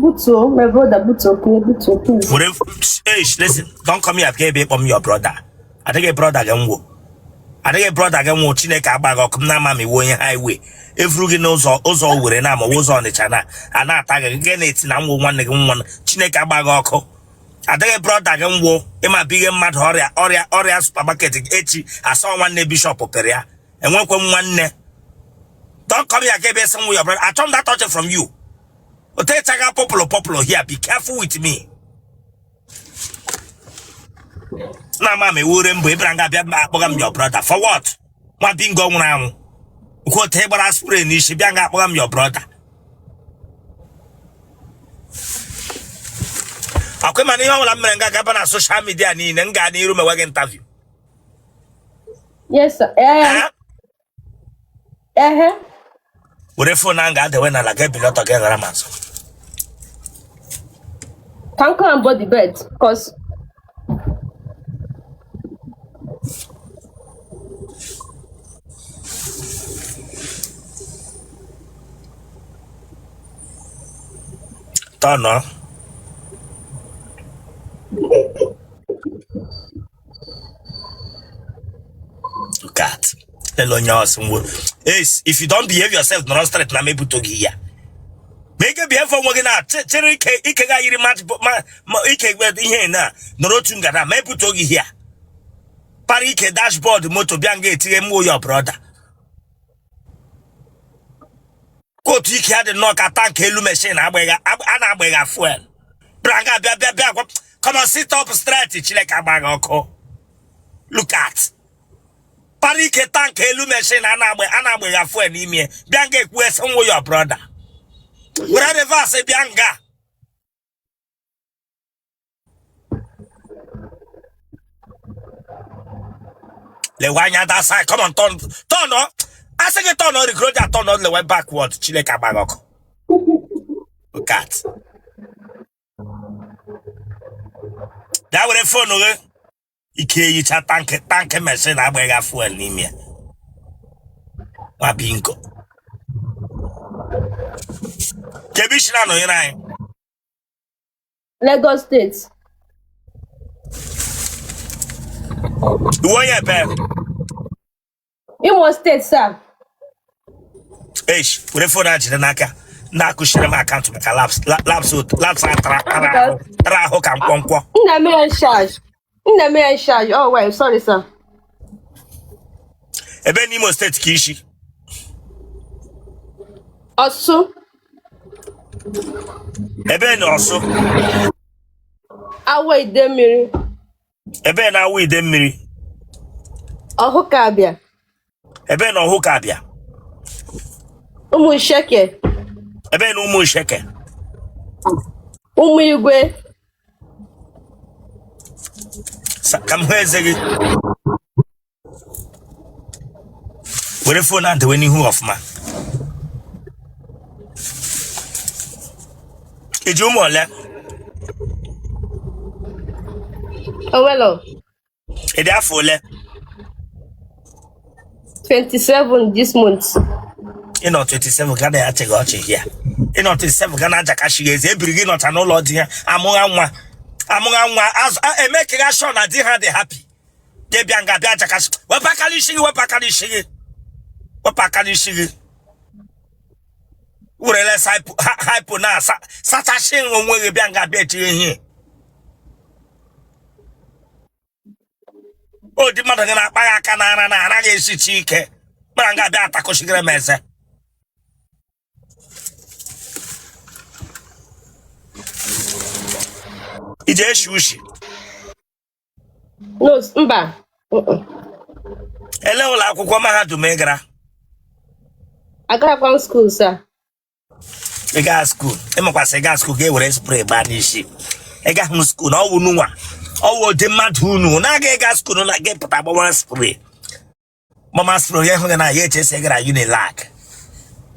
Butuo, my brother, butuo, please, butuo, please. were eish listen don't come here bịa ebe ịkpọ m your brother adịghị brother gị m wụ adịghị brother gị m wụ chineke gbaa gị ọkụ m na-ama m ị wụ onye highway evuru gị n'ụzọ ụzọ Owere na-amawa ụzọ ọnịcha na a na-ata gị gị na-eti na m wụ nwanne gị nwa chineke gbaa gị ọkụ adịghị brother gị m wụ ịma bụ ihe mmadụ ọrịa ọrịa ọrịa supermarket echi a sị ọ nwanne bishop pere ya enwekwe m nwanne don't come here again based on your brother achọ m that touch from you otechaga popular popular here be careful with me na ama m ewure mbụ ịbịara nga bịa akpọga m your brother for what nwa bingo nwụrụ anwụ nke otu ị gbara spray n'isi bịa nga akpọga m your brother ọkwa ị ma na ihe ọbụla m mere nga ga-aba na social media niile m gaa n'iru mewe gị interview Yes, sir. Eh, Eh? eh, eh. were phone ahụ ga-adewe n'ala ga ebili ọtọ ga ghara m azụ Can come and board the bed, cause turn Look at. Tell onye ọsụ ngwo. Eish, if you don't behave yourself, nọrọ straight na m ebutuo gị here. Ma ị ga e-behave onwe gị na che- chere ike ike gị a yiri match bo- ma ma ike gbe ihe na nọrọ otu nga na m ebutuo gị here. Para ike dashboard moto bịa nga eti na m wụ your brother. otu ike ya dị nnọọ ka tank elu machine a na-agbagha fuel bịa nga bịa bịa bịa come on sit up straight chineke gbaa gị ọkụ look at para ike tank elu machine a na-agbagha fuel n'ime bịa nga ekwu sị m wụ your brother were reverse bịa nga lewe anya that side come on turn turn ọ a sị gị turn ọ rigoro ja turn ọ lewe backward chineke gbaa gị ọkụ look at bịa were phone gị ike yicha tank tank machine a gbagha fuel n'ime ya nwa bingo kee ebe i si na-anọnyere anyị Lagos State Ị wụ onye ebee? Imo State sir Eish, were phone a jiri n'aka. Na-akụchiri m account maka laps la- laps ot- laps a tara tara ahụ tara ahụ ka mkpọmkpọ. nna m ya charge nna m in charge oh well sorry sir ebe n'imo steeti ka i shi ọsụ ebe na ọsụ Awo Idemiri ebe na Awo Idemiri Ọhụkabịa ebe na Ọhụkabịa Ụmụsheke ebe na Ụmụsheke Ụmụigwe Sa- ka m hụ eze gị were fon a dewe n'ihu ọfụma i ji ụmụ ole owelo ị dị afọ ole 27 this month. ị nọ 27 ga na achịghị ọchị ya ị nọ 27 ga na ajakashi gị eze ebiri gị nọcha n'ụlọ di ya amụgha nwa amụgha nwa azụ a- emekigha sure na di ha dị happy gị bịa nga bịa ajakashi wepụ aka n'isi gị wepụ aka n'isi gị wepụ aka n'isi gị werele hypo na-asachashi onwe gị bịa nga bịa etinye ihe ụdị mmadụ gị na-akpa gị aka n'ara na ara gị esichi ike gbara nga bịa atakụchigere m eze i ji eshi ushi No, s- mba. Mm-mm. ele ụlọ akwụkwọ mahadum ị gara Agaghịkwa m skuul sa. ị gaa skuul ị makwa sị ị gaa skuul ga-ewere spray gbaa n'isi ị gahụ skuul na ọ wụ unu nwa ọ wụ ụdị mmadụ unu na-aga ịga skuul na gị pụta gbama spray gbama spray onye hụ gị na ya echesi ị gara unilag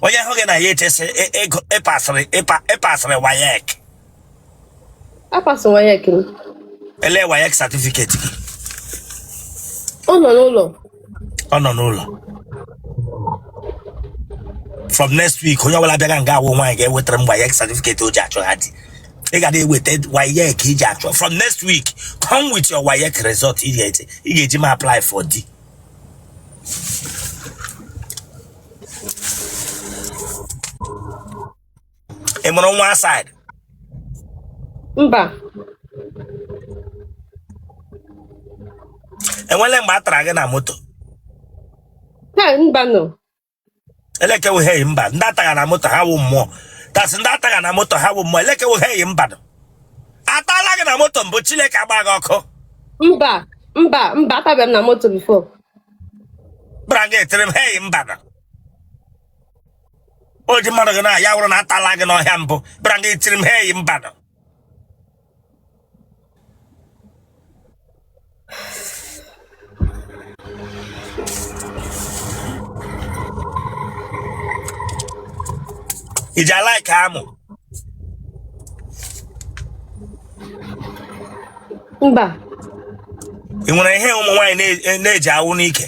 onye hụ gị na ya echesi ị- ị- ị pasịrị ị pa- ị pasịrị wayek apasị wayek m ele wayek satifiketi gị ọ nọ n'ụlọ ọ nọ n'ụlọ from next week onye ọbụla bịaga nga awụ nwaanyị ga-ewetara m wayek satifiketi o ji achọha di ị ga na-eweta wayek i ji achọ from next week come with your wayek result ị ga-eji ị ga-eji m apply for di ị mụrụ nwa outside mba e nwele mgbe a tara gị na moto ha mbanụ elekewuheghị mba ndị a tagha na moto ha wụ mmụọ tasị ndị a tagha na moto ha wụ mmụọ elekewuheghị mbanụ a tala gị na moto mbụ chineke agba gị ọkụ mba mba mba a tabeghị m na moto before gbara gị etere m hei mbanụ o ji mmadụ gị na ya wụrụ na atala gị n'ọhịa mbụ bịara gị tiri m ha eyi mbanụ ị ji a-like amụ mba ị nwere ihe ụmụ nwaanyị na-eji awụ n'ike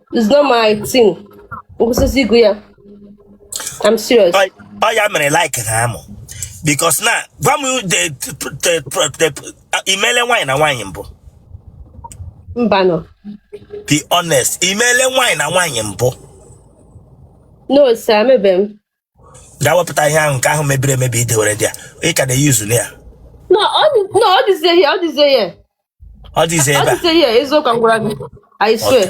It's not my thing. Eziokwu ya. I'm serious. Ọ ọ ya mere like ha amụ. Because na gwa m the the the i mele nwaanyị na nwaanyị mbụ. Mbanụ. Be honest, i mele nwaanyị na nwaanyị mbụ. No, sir, emebe m. gaa wepụta ihe ahụ nke ahụ mebiri emebi i dewere there ị ka na-e-use na ya No, ọ dị- no, ọ dịzie ihe, ọ dịzie ihe. ọ dịzi Ọ ebe a dịzie ihe, eziokwu m gwara gị. I swear.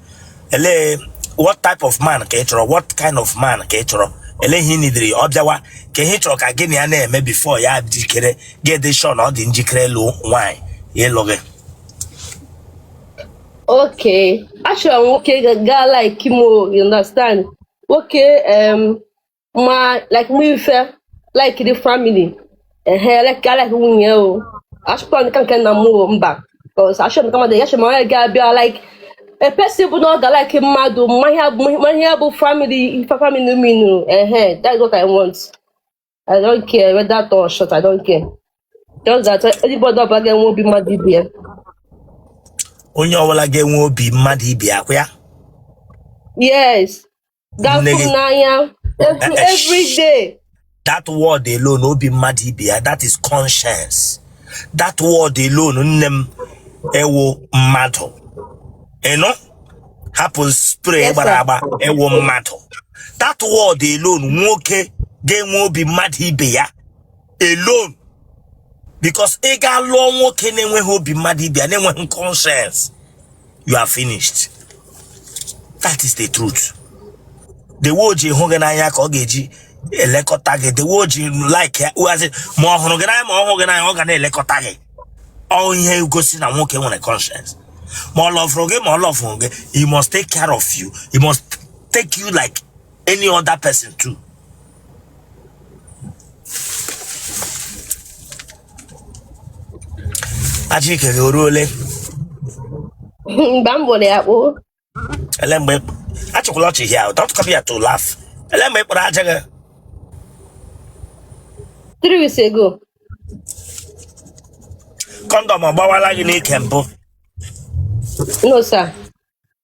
ele what type of man ka ị chọrọ what kind of man ka ị chọrọ ele ihe ị needịrị ọ bịawa ka ihe ị chọrọ ka gị na ya na-eme before ya jikere gị dị sure na ọ dị njikere ịlụ nwaanyị ịlụ gị Okay. Actually, nwoke ga-alike mụ o, you understand? Okay. Um, ma like mụ ife like the family ehe like like nwunye o achọkwa nke nke nna m o mba because achọ m kama ya chọrọ onye ga-abịa like a person bụ na ọ ga like mmadụ ma ihe bụ- ma ihe bụ family ife family mean ehe that's what I want I don't care whether tall or short I don't care just that anybody ọbụla ga-enwe obi mmadụ ibe ya onye ọbụla ga-enwe obi mmadụ ibe ya kwa ya yes ga-afụ nne gị n'anya every, Eh, eh, every day that word alone obi mmadụ ibe ya that is conscience that word alone nne m ị wụ mmadụ ị nụ hapụ spray Yes, gbara sir. agba ị wụ mmadụ that word alone nwoke ga-enwe obi mmadụ ibe ya alone because ị gaa lụọ nwoke na-enweghị obi mmadụ ibe ya na-enweghị conscience you are finished that is the truth the way o ji hụ gị n'anya ka ọ ga-eji elekọta gị the way o ji like ya uhazi ma ọ hụrụ gị n'anya ma ọ hụ gị n'anya ọ ga na-elekọta gị ọ ihe gosi na nwoke nwere conscience ma ọ lovụrụ gị ma ọ lovụrụ gị he must take care of you he must take you like any other person too aja ike gị o ruole mba m gbụrụ ya kpoo ele mgbe ị- achịkwala ọchị hia o don't come here to laugh ele mgbe ị kpụrụ aja gị three weeks ago kọndọm ọ gbawala gị n'ike mbụ no sir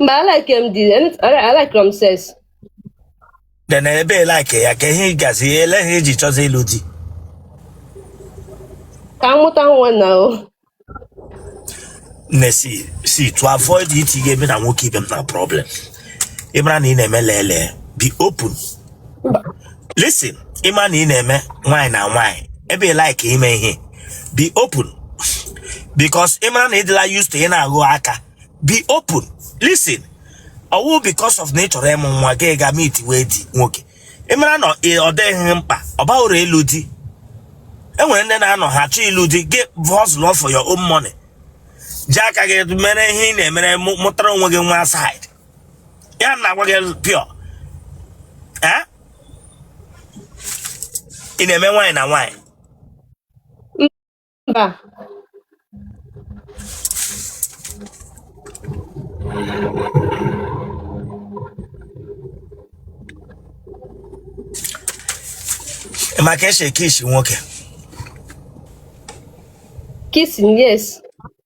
Mba, I like him dị. I like him says. then ebe ị like ya ka ihe gazi ele ihe i ji chọzi ịlụ di Ka m mụta nwa na o. mmesi si to avoid itinye ebe na nwoke ibe m na problem ị mara na ị na-eme lele be open listen ị ma na ị na-eme nwaanyị na nwaanyị ebe ị like ime ihe be open because ị mara na ị dịla used to ị na-aghụ aka be open listen ọ wụ because of na ị chọrọ ịmụ nwa gị ga meet with nwoke ị mara na ị- ọ dịghị mkpa ọ baghị uru ịlụ di e nwere ndị na-anọ ha chọọ ịlụ di gị hustle for your own money ji aka gị mere ihe ị na-emere mụ- mụtara onwe gị nwa side ya na-agwa gị pịọ eh? ị na-eme nwaanyị na nwaanyị mba ị ma ka e si e-kiss nwoke kissing yes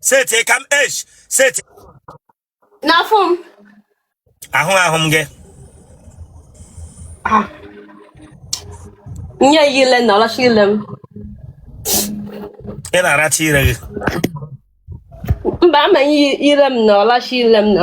setie ka m esh seti n'afọ m ahụ ahụ m gị Ah. nye ya ile na ọ lacha ile m ị na-aracha ire gị mba m nye ya ile m na ọ lacha ile m na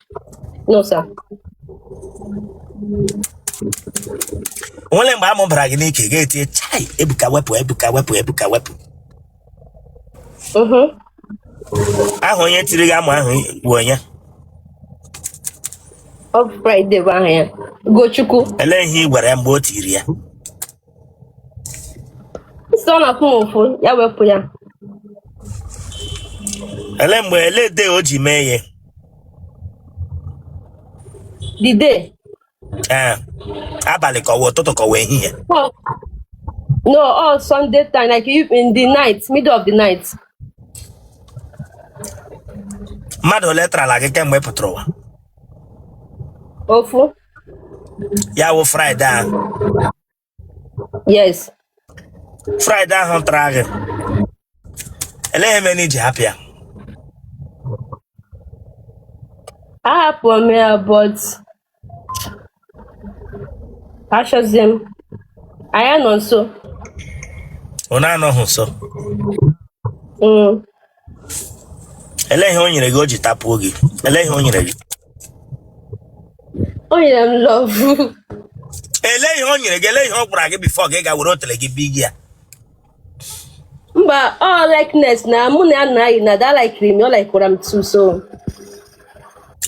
No, sir. o nwere mgbe amụ bara gị n'ike gị etie chai ebuka wepụ ebuka wepụ ebuka wepụ Mm-hmm. aha onye tiri gị amụ ahụ bụ onye Ọ bụ Friday bụ aha ya. Ugochukwu. elee ihe ị gwara ya mgbe o tiri ya Sị ọ na-afụ m ụfụ ya wepụ ya. ele mgbe ele day o ji mee ihe The day. ee abalị ka ọ wụ ụtụtụ ka ọ wụ ehihie Oh, no, all Sunday time, like you in the night, middle of the night. mmadụ ole tarala gị kemgbe ị pụtara ụwa Ofu. ya wụ Friday ahụ yes Friday ahụ tara gị elee ihe mere i ji hapụ ya ahapụrụ m ya but achọzi m anyị nọ nso unu anọghị nso Mm. Elee ihe o nyere gị o ji tapuo gị? Elee ihe o nyere gị? O nyere m love. Elee ihe o nyere gị? Elee ihe ọ gwara gị before gị ga were otele gị bi gị ya? Mba, ọ likeness na mụ na ya na anyị na da likiri m, ọ likwara m too so.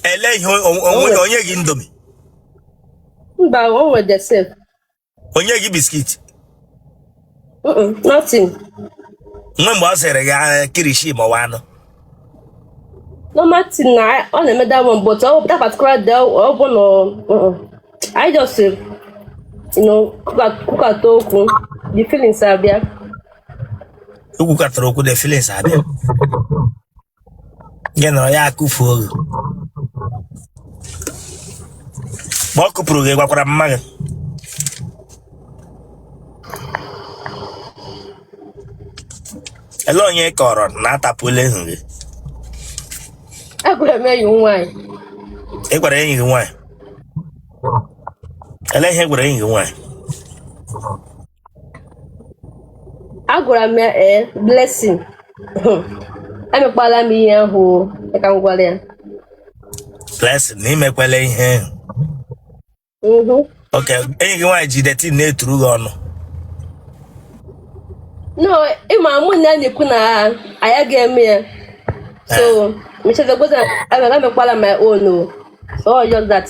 Elee ihe o- o- onwe na o nye gị Indomie? Mba, o nwere the same. o nye gị biscuit Mm-mm, nothing. o nwe mgbe ọ sịrị gị "Ah, kilishi ma ọ bụ anụ No nothing na ọ na-eme that one but ọ that particular day ọ bụ na mm-mm. I just eh, you know kwuka- kwukata okwu the feelings abịa. e kwukatara okwu the feelings abịa gị nọrọ ya akụfuo gị mgbe ọ kụpuru gị ị gwakwara mma gị ele onye ị kọọrọ na a tapuola ehu gị agwara m enyi m nwaanyị ị gwara enyi gị nwaanyị ele ihe ị gwara enyi gị nwaanyị agwara m ya ee blessing emekwala m ihe ahụ o, ka m gwara ya blessing na i mekwele ihe Mhm. okay enyi gị nwaanyị ji dating na-eturu gị ọnụ no ị ma mụ na ya na-ekwu na anyị ga-eme ya so mechazagboza emekwala my own o so all just that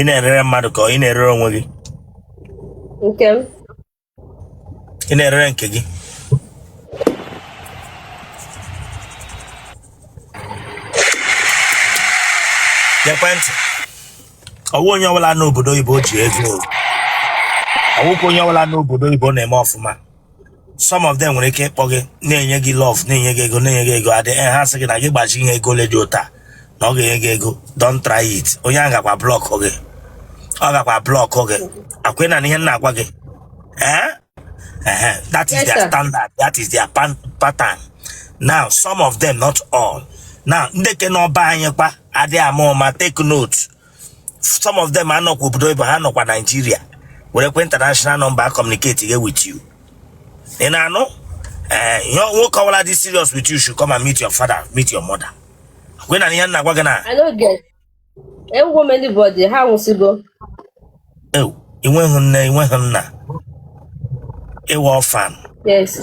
ị na-erere mmadụ ka ị na-erere onwe gị nke m ị na-erere nke gị gekwe ntị ọ wụ onye ọbụla n'obodo oyibo ji ego ọ wụkwa onye ọbụla n'obodo oyibo na-eme ọfụma some of them nwere ike ịkpọ gị na-enye gị love na-enye gị ego na-enye gị ego adị eh, ha sị gị na gị gbachi ihe ego ole dị otu a na ọ ga-enye gị ego don try it onye ahụ gakwa block gị ọ gakwa block gị ọkwa ị na-anụ ihe m na-agwa gị eh? Ehe, that is Yes, their sir. standard that is their pan- pattern now some of them not all now ndị ke nọ be anyị kwa adịghị ama ụma take note some of them anọkwa obodo oyibo ha nọkwa Nigeria werekwa international number communicate ghe with you ị na-anụ ee eh, ihe nwoke ọbụla dị serious with you should come and meet your father meet your mother gwe na ihe na-agwa gị na enweghị m anybody ha nwụsịgo ewu i nweghị nne i nweghị nna ị wụ orphan yes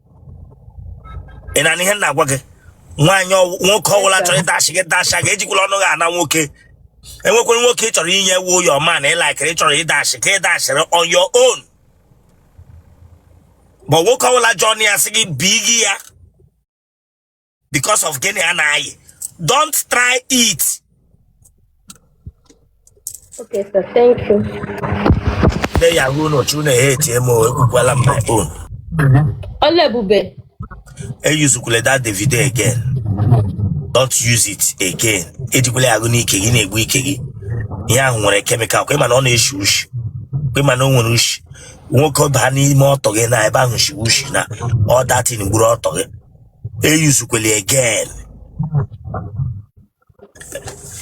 ị na-anụ ihe m na-agwa gị nwaanyị nwoke ọwụla chọrọ ịdashi gị dasha gị ejikwala ọnụ gị ana nwoke e nwekwere nwoke ị chọrọ inye wụ your man ị laikiri ị chọrọ ịdashi ka ị dashiri on your own but nwoke ọwụla ji ọnụ ya sị gị bi gị ya because of gịnị a na-ayị don't try it Okay, sir. Thank you. nne ya ruo unu chọọ unu ehetie m o, ekwukwala m my own Ọla ebube. eyuzukwule that david again don't use it again ejikwala ya agụ n'ike gị na-egbu ike gị ihe ahụ nwere chemical kwa ị ma na ọ na-eshi ushi kwa ị ma na o nwere ushi nwoke baa n'ime ọtọ gị na ebe ahụ shi ushi na ọ that thing gburu ọtọ gị eyuzukweli again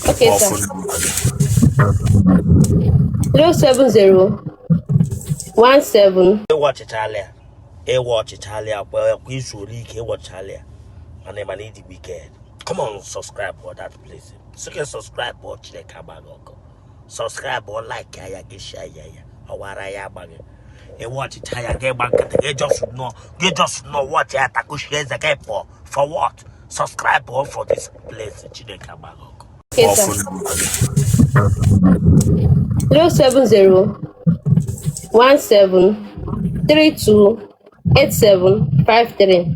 Okay, sir. Ọ fụrụ number gị. 070 17 ị watchịchala ya ị watchịchala ya kwa kwa i zuola ike ị watchịchala ya mana ị ma na ị dị wicked come on subscribe for that place sị gị subscribe for chineke agba gị ọkụ subscribe like ya gị share ya ya ọwara ya agbaghị ị watchịcha ya gị gba nkịtị gị just nọ gị just nọ watchị ya takushi eze gị pụọ for what subscribe o for this place chineke agba gị ọkụ zero seven zero one seven three two eight seven five three.